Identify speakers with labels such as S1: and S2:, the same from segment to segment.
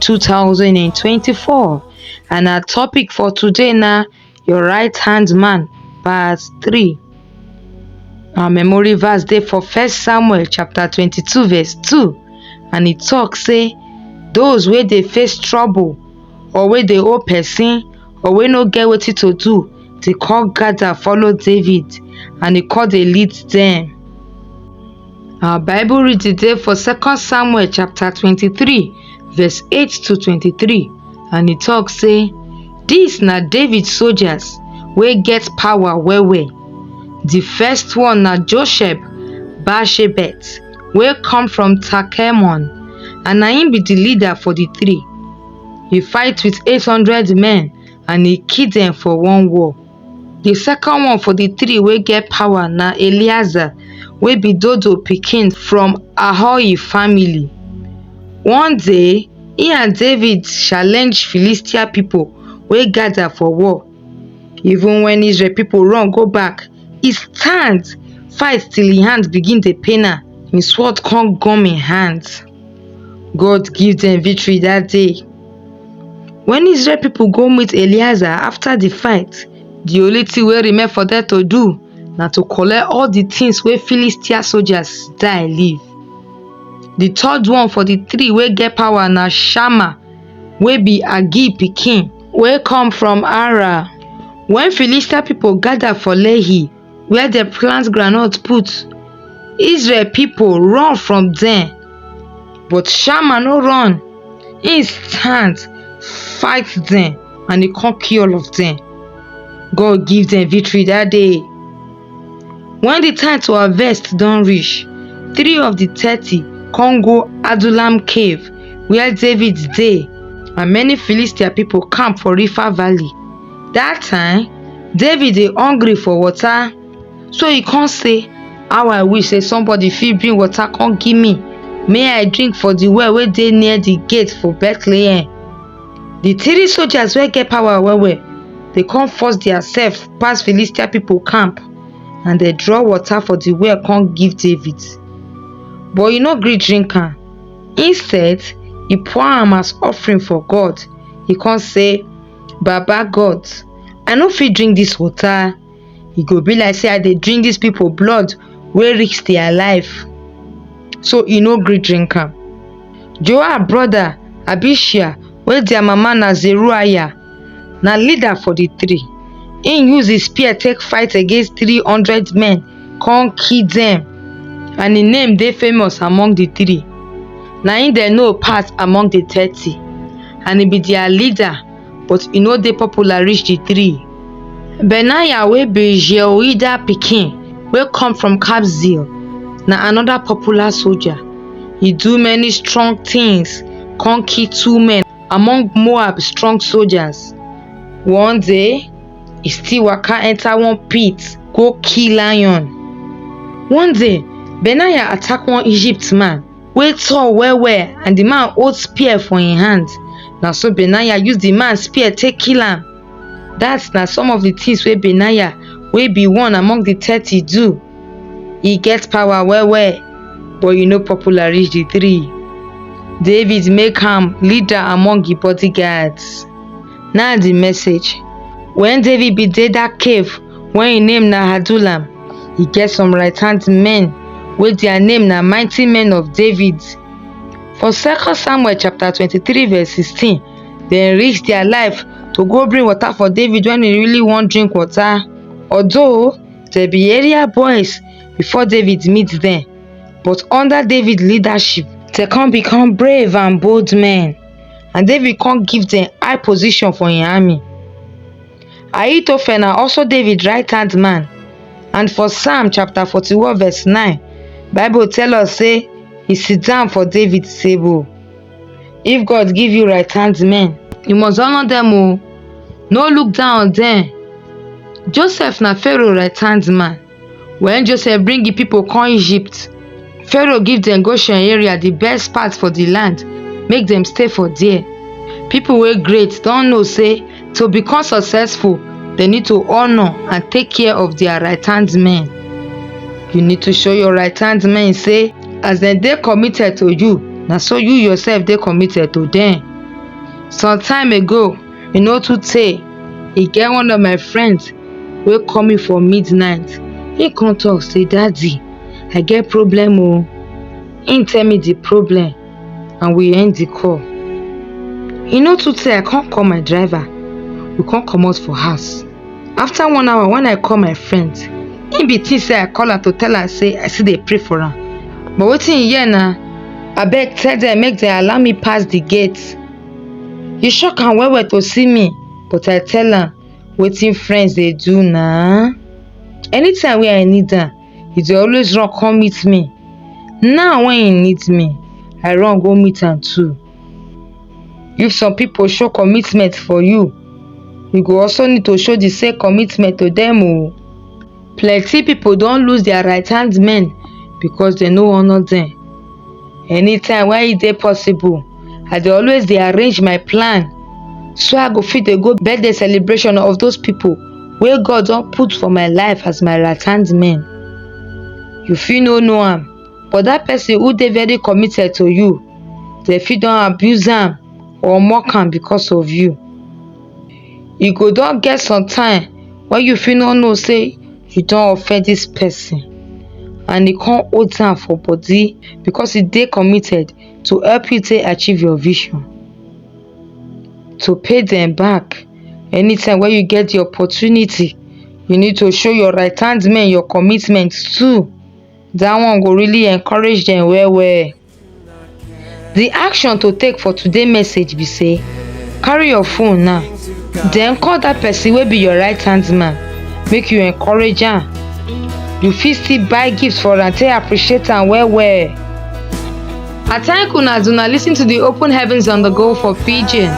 S1: two thousand and twenty-four and our topic for today na your right hand man verse three our memory verse dey for first samuel chapter twenty-two verse two and e talk say those wey dey face trouble or wey dey owe person or wey no get wetin to do dey come gather follow david and e come dey lead dem Our Bible read today for 2 Samuel chapter 23, verse 8 to 23, and it talks say, These na David soldiers wey get power well well. The first one na Josheb Bashebet wey come from Takemon, and na him be the leader for the three. He fight with 800 men and he kill them for one war. di second one for di three wey get power na eleazar wey be dodo pikin from ahohi family one day he and david challenge philistia people wey gather for war even when israel people run go back he stand fight till hin hand begin dey pain am hin sword come gum hin hand God give dem victory that day. When Israel people go meet Eleazar after the fight, the only thing wey remain for them to do na to collect all the things wey Philistia soldiers die leave. The third one for the three wey get power na Shammah wey be Agee pikin wey come from Ara. When Philistia people gather for Lehi, where dem plant groundnut put israel people run from dem but shammah no run he stand fight dem and he come kill all of dem god give dem victory that day when the time to harvest don reach three of the thirty come go adullam cave where david dey and many philistia people camp for river valley dat time david dey hungry for water so e come say how i wish say somebody fit bring water come give me may i drink for di well wey dey near di gate for bethlehem di three soldiers wey get power well well dey come force dia self pass philistia pipo camp and dem draw water for di well come give david but e no gree drink am instead e pour am as offering for god e come say Baba God, I no fit drink this water. E go be like say I dey drink these people blood wey risk their life. So e no gree drink am. Joab brother Abishai wey their mama na Zeruiah na leader for the three. He use his spear take fight against three hundred men come kill dem and im name dey famous among di three na im dem know pass among di thirty and e be dia leader but e no dey popular reach di three benaiah wey be jehoiada pikin wey come from kabzeel na anoda popular soldier e do many strong tins come kill two men among moab strong soldiers one day e still waka enter one pit go kill lion. One day, Benaiah attack one Egypt man wey tall well well and the man hold spear for im hand. Na so Benaiah use the man spear take kill am. That na some of the things wey Benaiah wey be one among the thirty do. E get power well well but e no popular reach the three. David make am leader among im bodyguards. na di message wen david bin dey dat cave wey im name na adullam e get some right hand men wey dia name na mighty men of david for second samuel chapter twenty three verse sixteen dem risk dia life to go bring water for david wen e really wan drink water although dem be area boys before david meet dem but under david leadership dem come become brave and bold men and david come give dem high position for im army ahithophel na also david right hand man and for psalm chapter forty one verse nine bible tell us say he sit down for david table if god give you right hand men you must honour dem o no look down on dem joseph na pharaoh right hand man Wen Joseph bring di pipo come Egypt, Pharaoh give dem Goshen area, di best part for di land, make dem stay for there. Pipo wey great don know say to become successful, dem need to honour and take care of dia right hand men. You need to show your right hand men say as dem dey committed to you, na so you yourself dey committed to dem. Some time ago, e no too tey e get one of my friends wey call me for midnight he come talk say daddy i get problem oo he tell me the problem and we end the call e no too tey i come call my driver we come comot for house after one hour when i call my friend he be think say i call am to tell am say i still dey pray for am but wetin he hear na abeg tell them make dem allow me pass the gate e shock am well well to see me but i tell am wetin friends dey do na anytime wey i need am e dey always run come meet me now when e need me i run go meet am too if some people show commitment for you you go also need to show the same commitment to them o plenty pipo don lose dia right hand men becos dem no honour dem anytime wey e dey possible i dey always dey arrange my plan so i go fit dey go birthday celebration of those pipo wey God don put for my life as my right hand men you fit no know am but dat person who dey very committed to you dem fit don abuse am or mock am becos of you e go don get some time wey you fit no know sey you don offend dis person and e come hold am for body because e dey committed to help you take achieve your vision to pay dem back anytime wey you get the opportunity you need to show your right hand men your commitment too dat one go really encourage dem well well Di action to take for today message be say carry your phone now den call dat person wey be your right hand man make you encourage am you fit still buy gift for am take appreciate am well well. I thank una as una lis ten to di open heavens on the go for pidgin.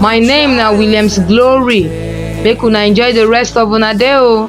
S1: My name na Williams Glory make una enjoy di rest of una day o.